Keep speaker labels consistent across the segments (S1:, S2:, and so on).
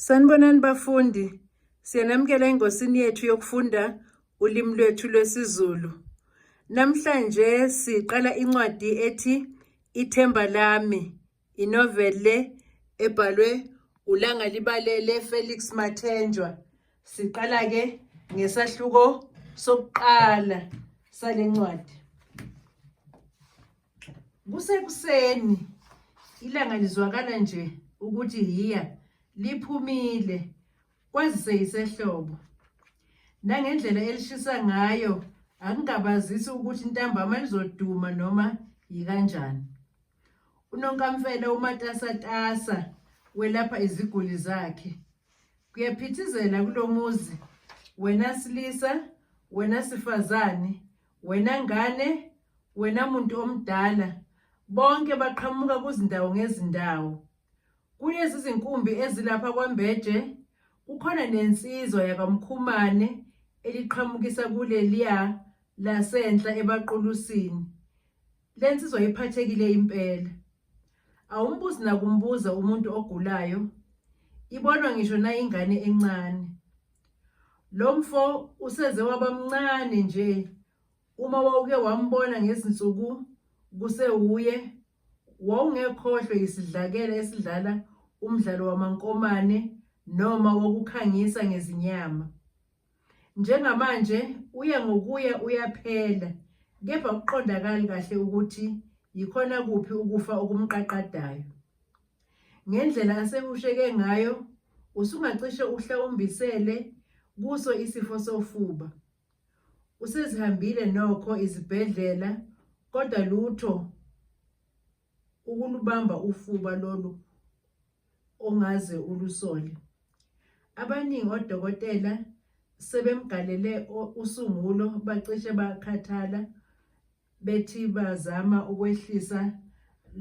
S1: Sanibonani bafundi, siyanamukela engosini yethu yokufunda ulimi lwethu lwesiZulu. Namhlanje siqala incwadi ethi Ithemba Lami, inovele ebhalwe uLanga Libalele Felix Mathenjwa. Siqala-ke ngesahluko sokuqala sale ncwadi. Kusekuseni ilanga lizwakala nje ukuthi yiya liphumile kwazise yisehlobo. Nangendlela elishisa ngayo akungabazisi ukuthi intambama lizoduma noma yikanjani. Unonkamfela umatasatasa welapha iziguli zakhe. Kuyaphithizela kulomuzi wena silisa wena sifazane Wena ngane, wena muntu omdala, bonke baqhamuka kuzindawo ngezindawo. Kulezi zinkumbi ezilapha kwaMbeje kukhona nensizwa yakaMkhumane eliqhamukisa kuleliya lasenhla ebaQulusini. Le nsizwa iphathekile impela. Awumbuzi nakumbuza umuntu ogulayo, ibonwa ngisho nayingane encane. Lo mfo useze waba mncane nje uma wawuke wambona ngezinsuku kusewuye wawungekhohlwe yisidlakela esidlala umdlalo wamankomane noma wokukhangisa ngezinyama. Njengamanje uya ngokuya uyaphela kepha kuqondakali kahle ukuthi yikhona kuphi ukufa okumqaqadayo. Ngendlela asehusheke ngayo usungacishe uhlawumbisele kuso isifo sofuba. Usezihambile nokho izibhedlela kodwa lutho ukulubamba ufuba lolu ongaze ulusole. Abaningi odokotela sebemgalele usungulo bacishe bakhathala bethi bazama ukwehlisa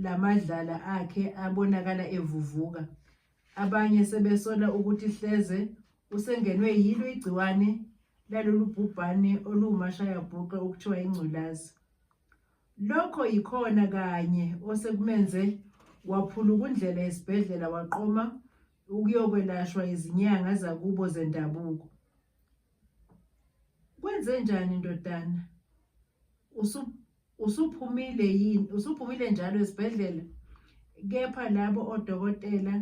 S1: lamadlala akhe abonakala evuvuka. Abanye sebesola ukuthi hleze usengenwe yilo igciwane lalolu bhubhane oluwumashayabhuqe okuthiwa ingculazi. Lokho yikhona kanye osekumenze waphulukundlela esibhedlela waqoma ukuyokwelashwa izinyanga zakubo zendabuko. Kwenzenjani ndodana? Usu usuphumile yini? Usuphumile njalo esibhedlela? Kepha labo odokotela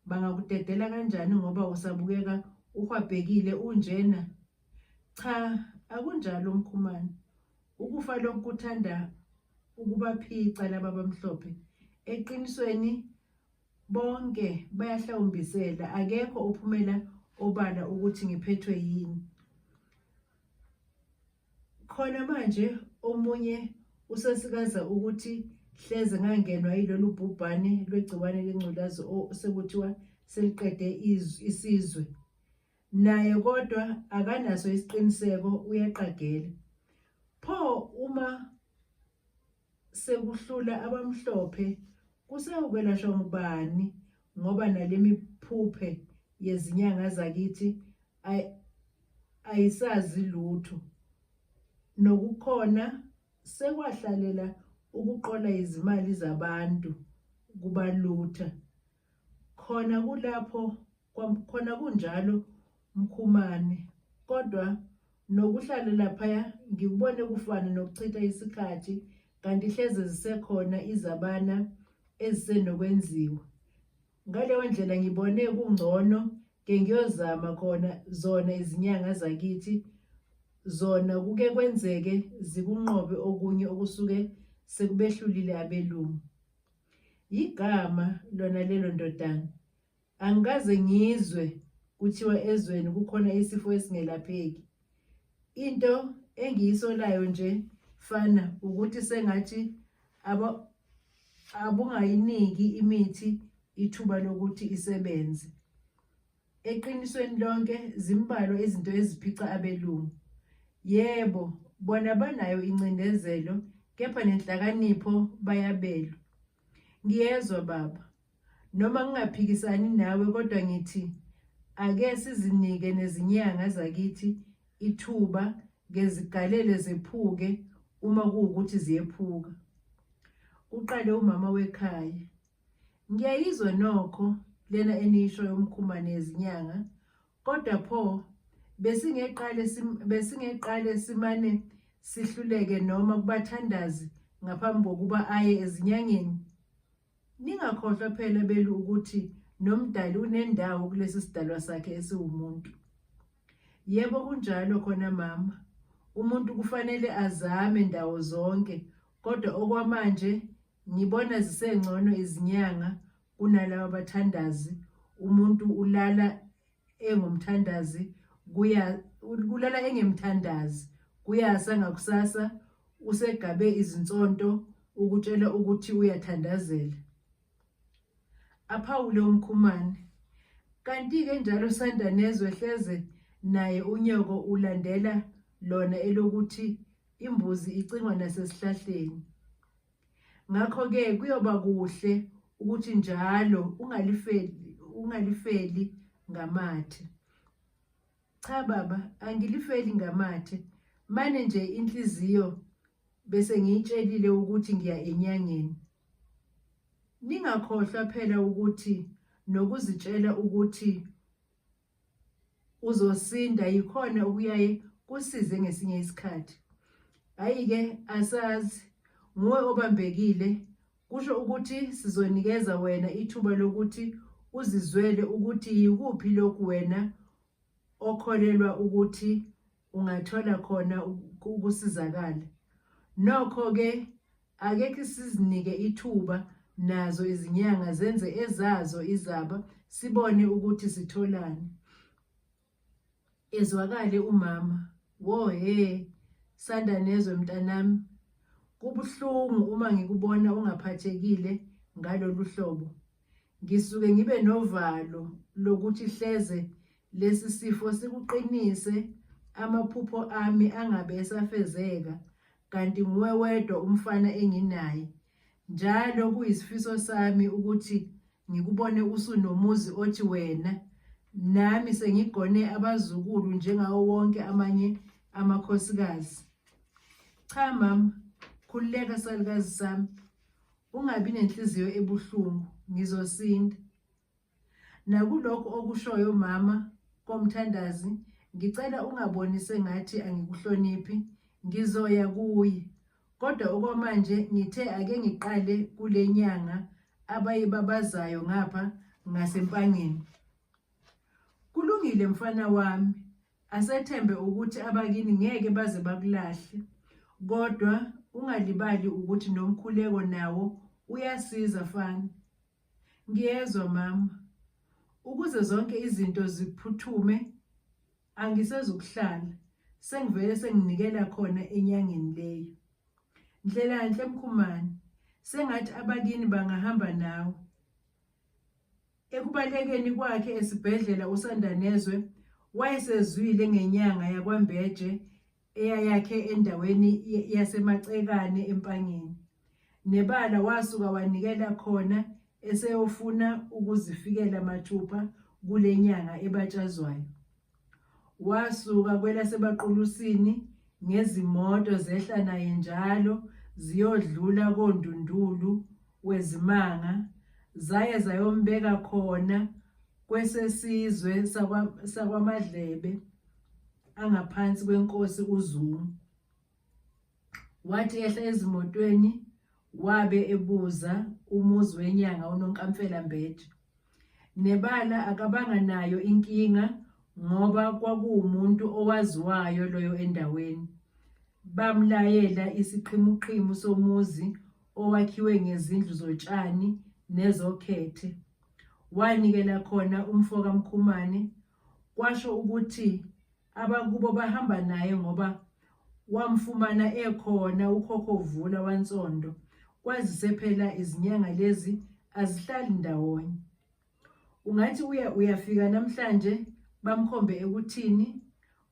S1: bangakudedela kanjani ngoba usabukeka uhwabhekile unjena? Cha, akunjalo Mkhumane. Ukufa lokuthanda ukubaphica laba bamhlophe. Eqinisweni Bonke bayahlawumbisela, akekho ophumela obala ukuthi ngiphethwe yini. Khona manje omunye usasikaza ukuthi hleze ngangenwa yilolu bhubhane lwegciwane lengculazi osekuthiwa seliqede isizwe. Naye kodwa akanaso isiqiniseko uyaqagela. Pho uma sekuhlula abamhlophe kusewukwelashwa ngubani ngoba nalemiphuphe yezinyanga zakithi ayisazi lutho nokukhona sekwahlalela ukuqola izimali zabantu kubalutha khona kulapho Khona kunjalo Mkhumane kodwa nokuhlala laphaya ngikubone kufana nokuchitha isikhathi kanti hleze zisekhona izabana ezisenokwenziwa ngaleyo ndlela ngibone kungcono ke ngiyozama khona zona izinyanga zakithi zona kuke kwenzeke zikunqobe okunye okusuke sekubehlulile abelungu yigama lona lelo ndodana Angikaze ngizwe kuthiwa ezweni kukhona isifo esingelapheki. Into engiyisolayo nje fana ukuthi sengathi aba abungayiniki imithi ithuba lokuthi isebenze. Eqinisweni lonke zimbalwa izinto eziphica abelungu. Yebo, bona banayo incindezelo kepha nenhlakanipho bayabelwa. Ngiyezwa baba, Noma ngingaphikisani nawe kodwa ngithi ake sizinike nezinyanga zakithi ithuba ngezigalele zephuke uma kuwukuthi ziyephuka. Uqale umama wekhaya. Ngiyayizwa nokho lena enisho yomkhumane yezinyanga kodwa pho besingeqale besingeqale simane sihluleke noma kubathandazi ngaphambi kokuba aye ezinyangeni Ningakhohlwa phela belu ukuthi nomdali unendawo kulesi sidalwa sakhe esiwumuntu. Yebo kunjalo khona mama. Umuntu kufanele azame ndawo zonke kodwa okwamanje ngibona zisengcono izinyanga kunalabo abathandazi umuntu ulala engomthandazi kuya kulala engemthandazi kuyasa ngakusasa usegabe izinsonto ukutshela ukuthi uyathandazela aphawule umkhumane kanti-ke njalo sanda nezwe hleze naye unyoko ulandela lona elokuthi imbuzi icingwa nasesihlahleni Ngakho-ke kuyoba kuhle ukuthi njalo ungalifeli, ungalifeli ngamathe. Cha baba, angilifeli ngamathe. Mane nje inhliziyo bese ngiyitshelile ukuthi ngiya enyangeni. Ningakhohlwa phela ukuthi nokuzitshela ukuthi uzosinda yikhona okuyaye kusize ngesinye isikhathi hayi-ke asazi nguwe obambekile kusho ukuthi sizonikeza wena ithuba lokuthi uzizwele ukuthi yikuphi lokhu wena okholelwa ukuthi ungathola khona ukusizakala nokho ke akekho sizinike ithuba nazo izinyanga zenze ezazo izaba sibone ukuthi sitholani ezwakale umama wo he sanda nezwe mntanami kubuhlungu uma ngikubona ungaphathekile ngalolu hlobo Ngisuke ngibe novalo lokuthi hleze lesi sifo sikuqinise amaphupho ami angabe esafezeka kanti nguwe wedwa umfana enginaye. Njalo kuyisifiso sami ukuthi ngikubone usunomuzi othi wena nami sengigone abazukulu njengawo wonke amanye amakhosikazi. Cha mama, khululeka salukazi sami. Ungabi nenhliziyo ebuhlungu, ngizosinda. Nakulokho okushoyo mama komthandazi, ngicela ungaboni sengathi angikuhloniphi, ngizoya kuye. Kodwa okwamanje ngithe ake ngiqale kule nyanga abayibabazayo ngapha ngasempangeni. Kulungile mfana wami, Asethembe ukuthi abakini ngeke baze bakulahle. Kodwa ungalibali ukuthi nomkhuleko nawo uyasiza fana. Ngiyezwa mama. Ukuze zonke izinto ziphuthume angisezukuhlala. Sengivele senginikela khona enyangeni leyo. Ndlela nhle mkhumane. Sengathi abakini bangahamba nawe. Ekubalekeni kwakhe esibhedlela uSandanezwe wayesezwile ngenyanga yakwaMbeje eyayakhe endaweni yaseMacekane eMpangeni. Nebala wasuka wanikela khona eseyofuna ukuzifikela mathupha kule nyanga ebatshazwayo. Wasuka kwelasebaqulusini ngezimoto zehla naye njalo ziyodlula kondundulu wezimanga zaye zayombeka khona kwesesizwe sakwaMadlebe angaphansi kwenkosi uZungu. wathi ehla ezimotweni wabe ebuza umuzi wenyanga unonkamfela mbethi nebala akabanga nayo inkinga ngoba kwakuwumuntu owaziwayo loyo endaweni bamlayela isiqhimuqhimu somuzi owakhiwe ngezindlu zotshani nezokhethe wanikela khona umfoka Mkhumane kwasho ukuthi abakubo bahamba naye ngoba wamfumana ekhona ukhokho uvula wansondo kwazise phela izinyanga lezi azihlali ndawonye ungathi uya uyafika namhlanje bamkhombe ekuthini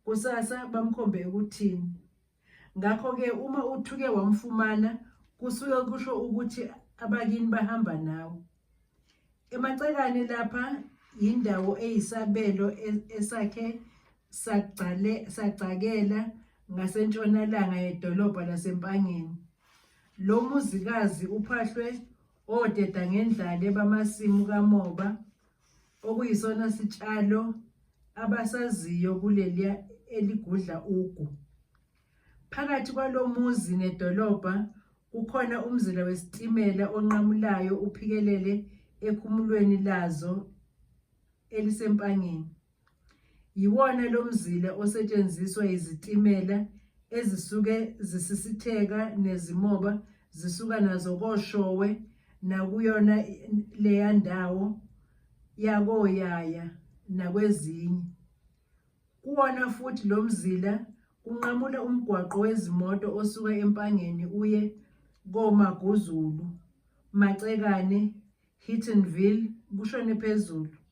S1: kusasa bamkhombe ekuthini Ngakho-ke uma uthuke wamfumana kusuke kusho ukuthi abakini bahamba nawe. Emacekane lapha yindawo eyisabelo e-, esakhe sagcakela ngasentshonalanga yedolobha laseMpangeni. Lo muzikazi uphahlwe odedangendlale bamasimu kamoba okuyisona sitshalo abasaziyo kuleliya eligudla ugu. Phakathi kwalo muzi nedolobha kukhona umzila wesitimela onqamulayo uphikelele ekhumulweni lazo elisempangeni. Yiwona lo mzila osetshenziswa yizitimela ezisuke zisisitheka nezimoba zisuka nazo koShowe nakuyona leya ndawo yakoYaya nakwezinye. Kuwona futhi lo mzila kunqamula umgwaqo wezimoto osuka eMpangeni uye koMaguzulu, Macekane, Hittonville kushone phezulu.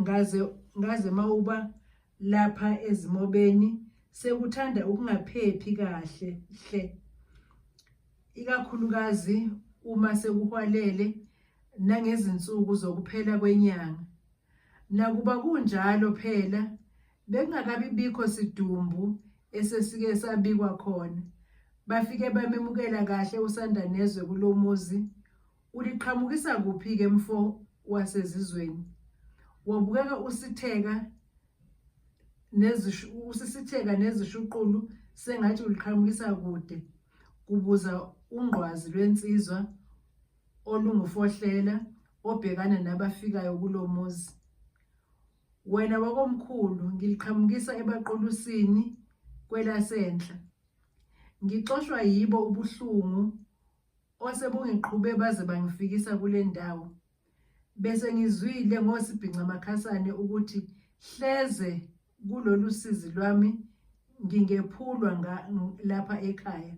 S1: ngaze ngaze mawuba lapha ezimobeni sekuthanda ukungaphephi kahle hle ikakhulukazi uma sekuhwalele nangezinsuku zokuphela kwenyanga nakuba kunjalo phela bekungakabi bikho sidumbu esesike sabikwa khona bafike bamemukela kahle usandanezwe kulomuzi Uliqhamukisa kuphi-ke mfo wasezizweni? Wabukeka usitheka nezishu usisitheka nezishuqulu sengathi uliqhamukisa kude kubuza ungqwazi lwensizwa olungufohlela obhekana nabafikayo kulomuzi. Wena wakomkhulu ngiliqhamukisa ebaqulusini kwelasenhla. Ngixoshwa yibo ubuhlungu Ose bungiqhube baze bangifikisa kule ndawo. Bese ngizwile ngosibhinca makhasane ukuthi hleze kulolu sizi lwami ngingephulwa lapha ekhaya.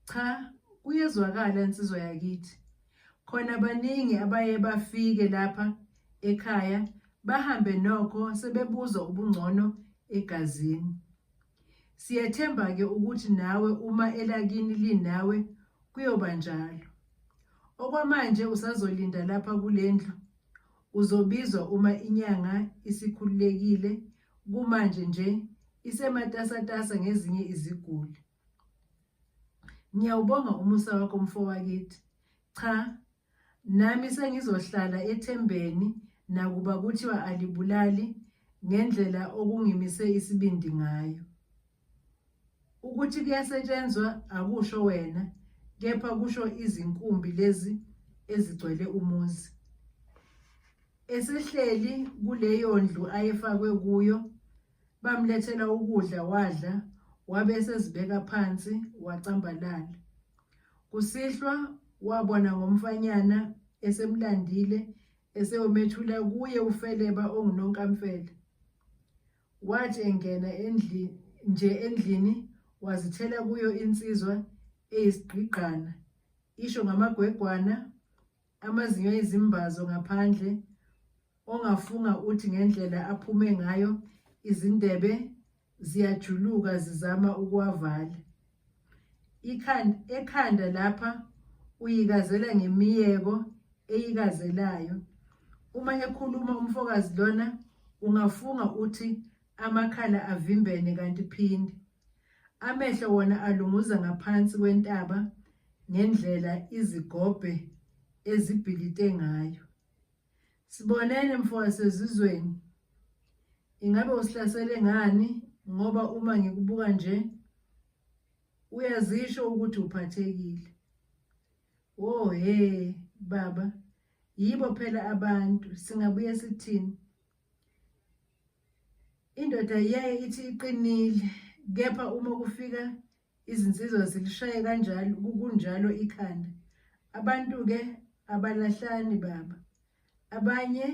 S1: Cha, kuyezwakala insizwa yakithi. Khona baningi abaye bafike lapha ekhaya bahambe nokho sebebuzwa ubungcono egazini. Siyethemba-ke ukuthi nawe uma elakini linawe kuyoba njalo. Okwamanje usazolinda lapha kule ndlu. Uzobizwa uma inyanga isikhululekile kumanje nje isematasatasa ngezinye iziguli. Ngiyawubonga umusa wakho mfowakithi. Cha Nami sengizohlala ethembeni nakuba kuthiwa alibulali ngendlela okungimise isibindi ngayo. Ukuthi kuyasetshenzwa akusho wena kepha kusho izinkumbi lezi ezigcwele umuzi. Esehleli kuleyondlu ayefakwe kuyo Bamlethela ukudla wadla wabe esezibeka phansi wacambalala. Kusihlwa wabona ngomfanyana esemlandile esewomethula kuye ufeleba ongunonkamfele. Wathi engena endlini nje endlini wazithela kuyo insizwa eyisigqigqana isho ngamagwegwana Amazinyo ezimbazo ngaphandle ongafunga uthi ngendlela aphume ngayo izindebe ziyajuluka zizama ukuwavala. Ikhanda ekhanda lapha uyikazela ngemiyeko eyikazelayo. Uma ekhuluma umfokazi lona ungafunga uthi amakhala avimbene kanti phinde. Amehlo wona alunguza ngaphansi kwentaba ngendlela izigobhe ezibhilite ngayo. Sibonene mfo wasezizweni. Ingabe usihlasele ngani ngoba uma ngikubuka nje uyazisho ukuthi uphathekile. Wo oh, he baba yibo phela abantu singabuye sithini. Indoda iyaye ithi iqinile kepha uma kufika izinsizwa zilishaye kanjalo kunjalo ikhanda. Abantu-ke abalahlani baba. Abanye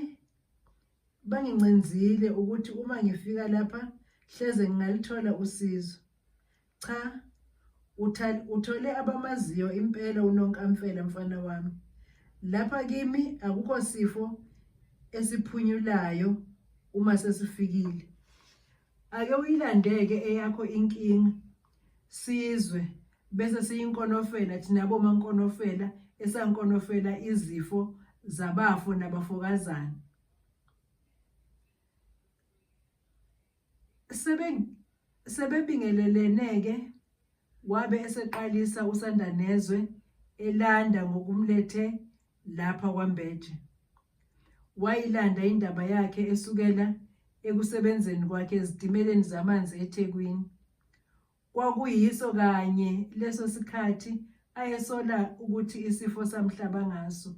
S1: bangincenzile ukuthi uma ngifika lapha hleze ngingalithola usizo. Cha uthole abamaziyo impela unonkamfela mfana wami. Lapha kimi akukho sifo esiphunyulayo uma sesifikile. Ake uyilandeke eyakho inkinga sizwe bese siyinkonofela thina bomankonofela esankonofela izifo zabafo nabafokazana. sebebingelelene-ke wabe eseqalisa uSandanezwe elanda ngokumlethe lapha kwaMbeje. Wayilanda indaba yakhe esukela ekusebenzeni kwakhe ezitimeleni zamanzi eThekwini. Kwakuyiso kanye leso sikhathi ayesola ukuthi isifo samhlaba ngaso.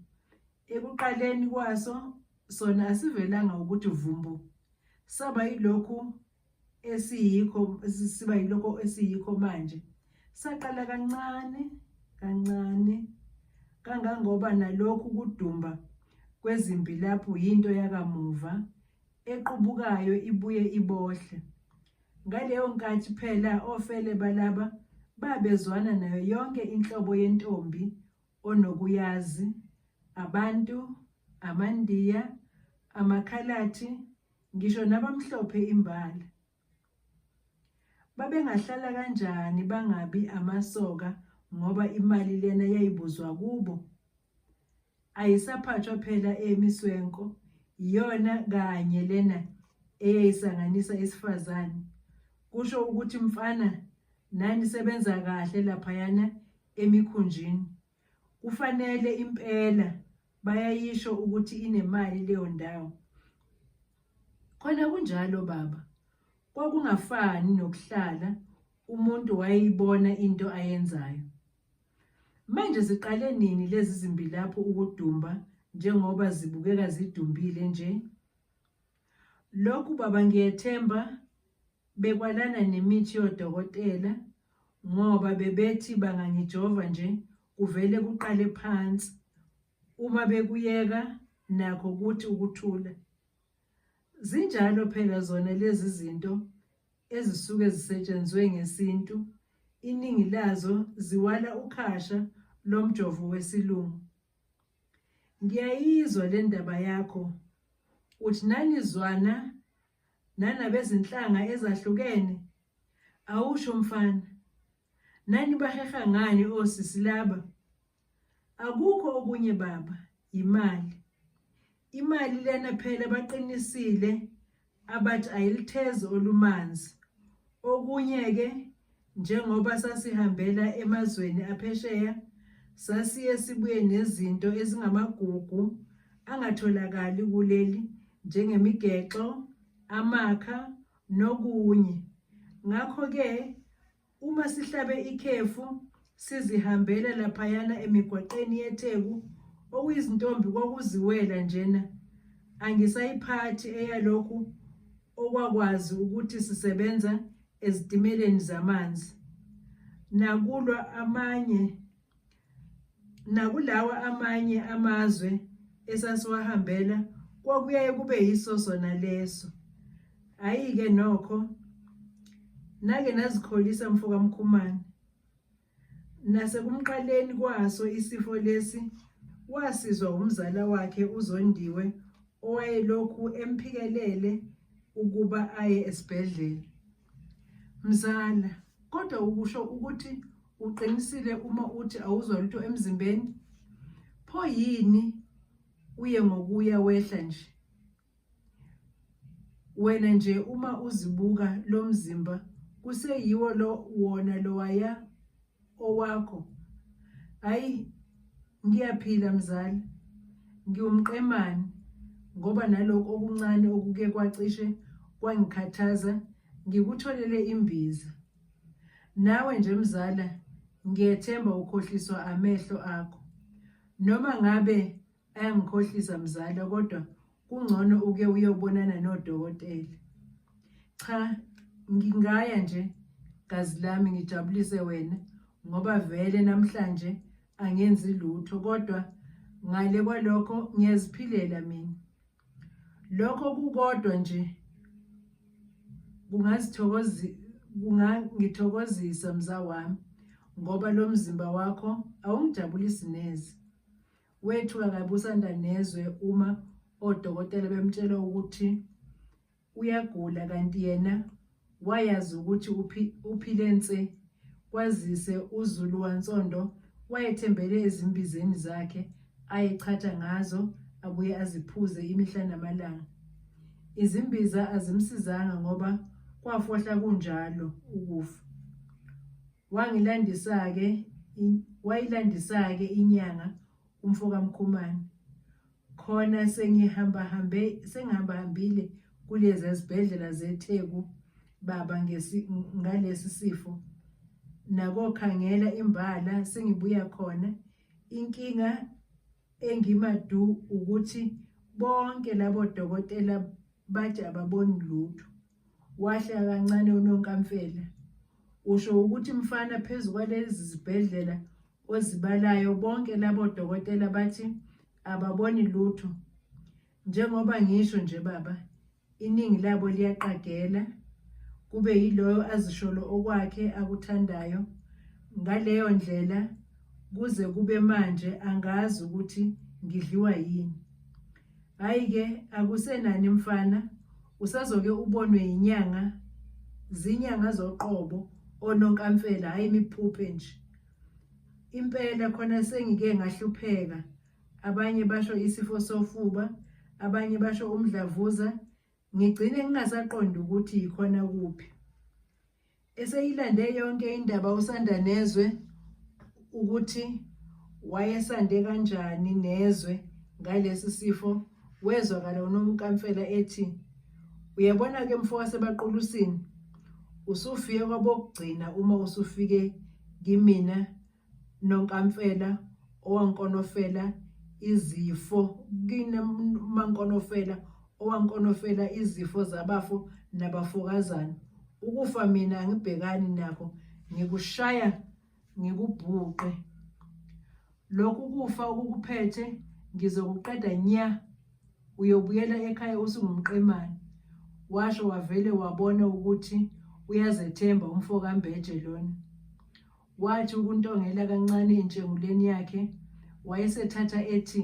S1: Ekuqaleni kwaso sona asivelanga ukuthi vumbu. Saba yilokhu esiyikho siba yilokho esiyikho manje saqala kancane kancane kangangoba nalokhu kudumba kwezimpi lapho yinto yakamuva equbukayo ibuye ibohle. Ngaleyo nkathi phela ofele balaba babezwana nayo yonke inhlobo yentombi onokuyazi, abantu, amandiya, amakhalathi, ngisho nabamhlophe imbala. Babengahlala kanjani bangabi amasoka ngoba imali lena yayibuzwa kubo? Ayisaphathwa phela emiswenko iyona kanye lena eyayisanganisa isifazane. Kusho ukuthi mfana nani sebenza kahle laphayana emikhunjini. Kufanele impela bayayisho ukuthi inemali leyo ndawo. Khona kunjalo baba. Kwakungafani nokuhlala umuntu wayeyibona into ayenzayo. Manje ziqale nini lezi zimbilaphu ukudumba njengoba zibukeka zidumbile nje? Lokhu baba ngiyethemba bekwalana nemithi yodokotela ngoba bebethi bangangijova nje kuvele kuqale phansi uma bekuyeka nakho kuthi ukuthula zinjalo phela zona lezi zinto ezisuke zisetshenzwe ngesintu iningi lazo ziwala ukhasha lomjovo wesilungu Ngiyayizwa le ndaba yakho. Uthi nanizwana nanabezinhlanga ezahlukene? Awusho mfana. Nani baheha ngani osisi laba? Akukho okunye baba, yimali. Imali lena phela baqinisile Abathi ayilithezi olumanzi. Okunye-ke njengoba sasihambela emazweni aphesheya, sasiye sibuye nezinto ezingamagugu angatholakali kuleli njengemigexo, amakha nokunye. Ngakho-ke Uma sihlabe ikhefu sizihambela laphayana emigwaqeni yeTheku okuyizintombi kwakuziwela njena angisayiphathi eyalokhu okwakwazi ukuthi sisebenza ezitimeleni zamanzi nakulwa amanye Nakulawa amanye amazwe esasiwahambela kwakuyaye kube yiso sona leso. Hhayi-ke nokho nake nazikholisa mfoka Mkhumane. Nasekumqaleni kwaso isifo lesi wasizwa umzala wakhe uZondiwe owayelokhu emphikelele ukuba aye esibhedlela. Mzala, kodwa ukusho ukuthi Uqinisile uma uthi awuzwa lutho emzimbeni? Pho yini uye ngokuya wehla nje? Wena nje uma uzibuka lo mzimba kuseyiwo lo wona lowaya owakho. Hayi ngiyaphila mzali. Ngiwumqemane ngoba nalokho okuncane okuke kwacishe kwangikhathaza ngikutholele imbiza. Nawe nje mzala ngiyethemba ukhohliswa amehlo akho. Noma ngabe ayangikhohlisa mzala kodwa kungcono uke uyobonana nodokotela. Cha ngingaya nje gazi lami ngijabulise wena ngoba vele namhlanje angenzi lutho kodwa ngale kwalokho ngiyaziphilela mina. Lokho kukodwa nje kungazithokozi kungangithokozisa mza wami ngoba lo mzimba wakho awungijabulisi neze. Wethuka kabi uSanda nezwe uma odokotela bemtshela ukuthi uyagula kanti yena wayazi ukuthi uphi, uphile nse kwazise uzulu wansondo wayethembele ezimbizeni zakhe ayechatha ngazo abuye aziphuze imihla namalanga izimbiza azimsizanga ngoba kwafohla kunjalo ukufa wangilandisa-ke wayilandisa-ke inyanga umfokamkhumane khona sengihambahambe sengihambahambile kulezi ezibhedlela zetheku baba ngalesi sifo nakokhangela imbala sengibuya khona inkinga engimadu ukuthi bonke labo dokotela bathi ababoni lutho Wahla kancane unonkamfela. Usho ukuthi mfana phezu kwalezi zibhedlela ozibalayo bonke labo dokotela bathi ababoni lutho. Njengoba ngisho nje baba, iningi labo liyaqagela kube yiloyo azisholo okwakhe akuthandayo. Ngaleyo ndlela kuze kube manje angazi ukuthi ngidliwa yini. Hayi ke akusenani mfana usazoke ubonwe inyanga zinyanga zoqobo ononkamfela hayi imiphuphe nje impela khona sengike ngahlupheka abanye basho isifo sofuba abanye basho umdlavuza Ngigcine ngingasaqondi ukuthi yikhona kuphi. Eseyilande yonke indaba usanda nezwe ukuthi wayesande kanjani nezwe ngalesi sifo wezwakala unomkamfela ethi uyabona ke mfo wasebaqulusini usufike kwabokugcina uma usufike kimina nonkamfela owankonofela izifo kine mankonofela owankonofela izifo zabafo nabafokazana ukufa mina angibhekani nakho ngikushaya ngikubhuqe lokhu kufa ukukuphethe ngizokuqeda nya uyobuyela ekhaya usungumqemane washo wavele wabona ukuthi uyazethemba umfo kambeje lona Wathi ukuntongela kancane intshenguleni yakhe, wayesethatha ethi,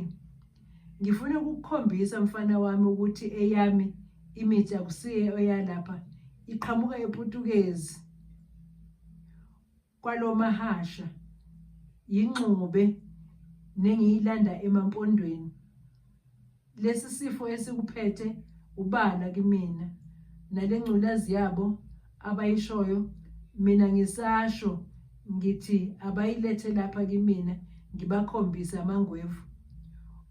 S1: Ngifuna ukukukhombisa mfana wami ukuthi eyami imithi akusiye oyalapha, iqhamuka ePutukezi kwalo mahasha yingxube nengiyilanda emampondweni. lesi sifo esikuphethe ubala kimina nale ngculazi yabo abayishoyo mina ngisasho ngithi abayilethe lapha kimina ngibakhombise amangwevu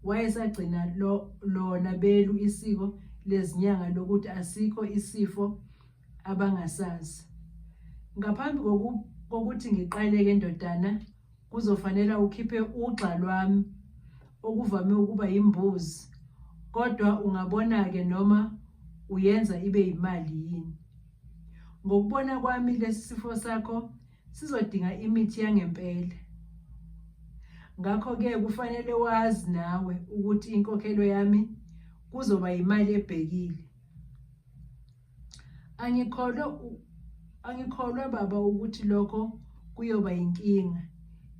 S1: wayesagcina lo lona belu isiko lezinyanga lokuthi asikho isifo abangasazi ngaphambi kokuthi ngiqaleke ndodana Kuzofanela ukhiphe ugxa lwami okuvame ukuba yimbuzi kodwa ungabona-ke noma uyenza ibe yimali yini. Ngokubona kwami lesi sifo sakho sizodinga imithi yangempela. Ngakho-ke kufanele wazi nawe ukuthi inkokhelo yami kuzoba yimali ebhekile. Angikholwa angikholwa baba ukuthi lokho kuyoba yinkinga.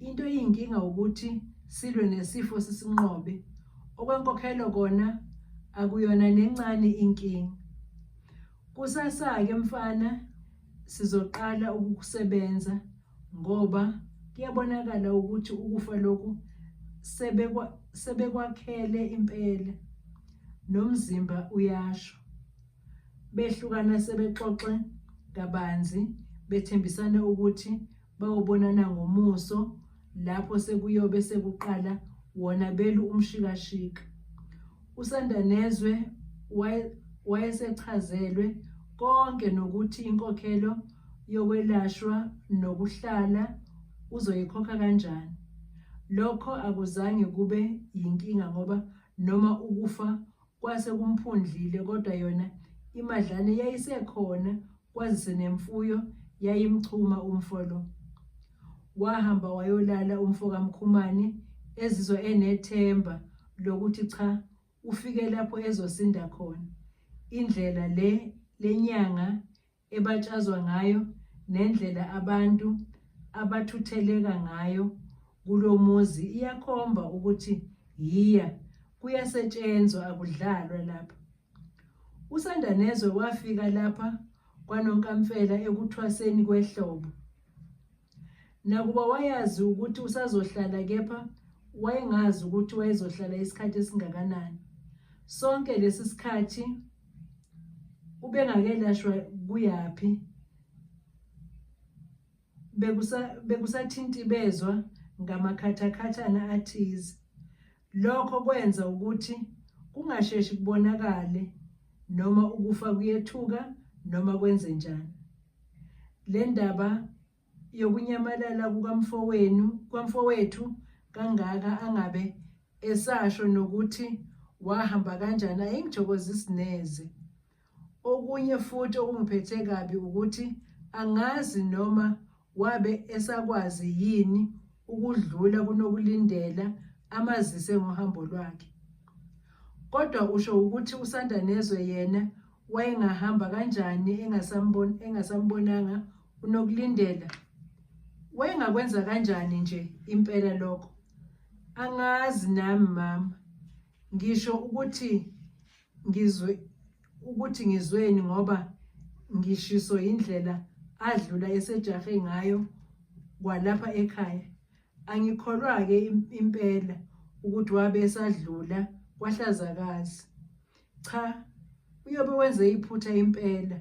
S1: Into eyinkinga ukuthi silwe nesifo sisinqobe. Okwenkokhelo kona akuyona nencane inkinga. Kusasa-ke mfana sizoqala ukukusebenza ngoba kuyabonakala ukuthi ukufa lokhu sebekwakhele impela nomzimba uyasho. Behlukana sebexoxe kabanzi bethembisana ukuthi bayobonana ngomuso lapho sekuyobe sekuqala wona belu umshikashika. USandanezwe wayesechazelwe konke nokuthi inkokhelo yokwelashwa nokuhlala uzoyikhokha kanjani. Lokho akuzange kube yinkinga ngoba noma ukufa Kwase kumphundlile kodwa yona imadlane yayisekhona kwazise nemfuyo yayimchuma umfo lo. Wahamba wayolala umfo kaMkhumane ezizwa enethemba lokuthi cha ufike lapho ezosinda khona. Indlela le lenyanga ebatshazwa ngayo nendlela abantu abathutheleka ngayo kulomuzi iyakhomba ukuthi yiya kuyasetshenzwa akudlalwa lapha usandanezwe wafika lapha kwanonkamfela ekuthwaseni kwehlobo Nakuba wayazi ukuthi usazohlala kepha wayengazi ukuthi wayezohlala isikhathi esingakanani. Sonke lesi sikhathi ubengakelashwa kuyaphi bekusathinti bezwa ngamakhathakhathana athize Lokho kwenza ukuthi kungasheshi kubonakale noma ukufa kuyethuka noma kwenze njani. Le ndaba yokunyamalala kukamfowenu kwamfowethu kangaka angabe esasho nokuthi wahamba kanjani ayingithokozisi neze. Okunye futhi okungiphethe kabi ukuthi angazi noma wabe esakwazi yini ukudlula kunokulindela amazise ngohambo lwakhe. Kodwa usho ukuthi usanda nezwe yena wayengahamba kanjani engasambon engasambonanga unokulindela. Wayengakwenza kanjani nje impela lokho? Angazi nami mama. Ngisho ukuthi ngizwe ukuthi ngizweni ngoba ngishiso indlela adlula esejahe ngayo kwalapha ekhaya angikholwa ke impela ukuthi wabe esadlula kwahlazakazi cha uyobe wenze iphutha impela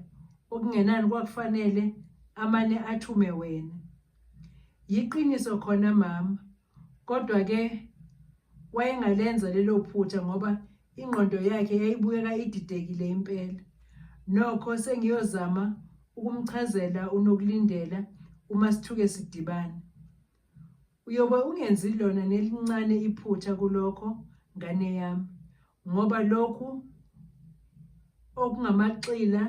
S1: okungenani kwakufanele amane athume wena yiqiniso khona mama kodwa ke wayengalenza lelo phutha ngoba ingqondo yakhe yayibukeka ididekile impela nokho sengiyozama ukumchazela unokulindela uma sithuke sidibana uyobe ungenzi lona nelincane iphutha kulokho ngane yami ngoba lokhu okungamaxila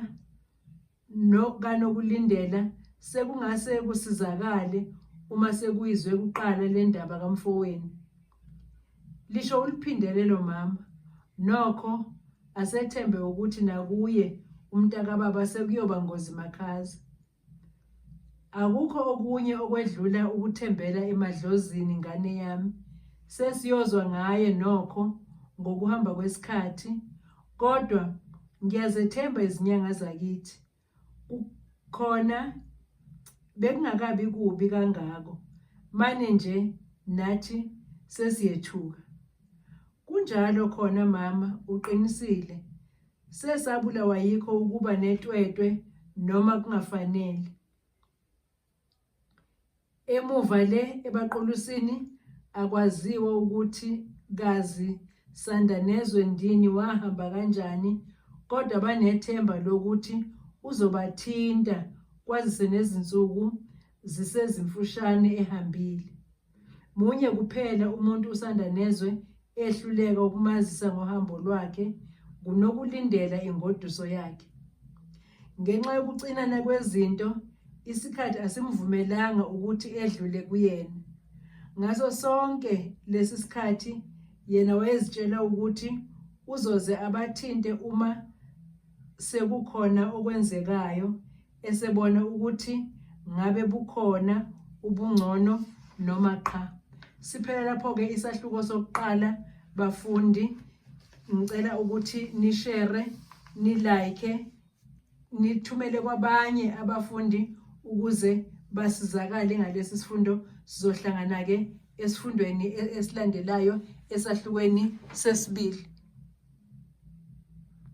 S1: kanokulindela sekungase kusizakale uma sekuyizwe kuqala le ndaba kamfowenu lisho uliphindele lo mama nokho asethembe ukuthi nakuye umntakababa sekuyoba ngozi makhaza akukho okunye okwedlula ukuthembela emadlozini ngane yami sesiyozwa ngaye nokho ngokuhamba kwesikhathi Kodwa ngiyazethemba izinyanga zakithi. Khona bekungakabi kubi kangako. Mane nje nathi sesiyethuka. Kunjalo khona mama uqinisile. Sesabulawa yikho ukuba netwetwe noma kungafanele. Emuva le ebaqulusini akwaziwa ukuthi kazi Sandanezwe ndini wahamba kanjani kodwa banethemba lokuthi uzobathinta kwazise nezinsuku zisezimfushane ehambile. Munye kuphela umuntu usanda nezwe ehluleka ukumazisa ngohambo lwakhe ngunokulindela ingoduso yakhe. Ngenxa yokucinana kwezinto, isikhathi asimvumelanga ukuthi edlule kuyena. Ngaso sonke lesi sikhathi yena wayezitshela ukuthi uzoze abathinte uma sekukhona okwenzekayo esebona ukuthi ngabe bukhona ubungcono noma qha. Siphela lapho-ke isahluko sokuqala bafundi, ngicela ukuthi nishere, nilike, nithumele kwabanye abafundi ukuze basizakale ngalesi sifundo. Sizohlangana-ke esifundweni e-, esilandelayo esahlukweni sesibili.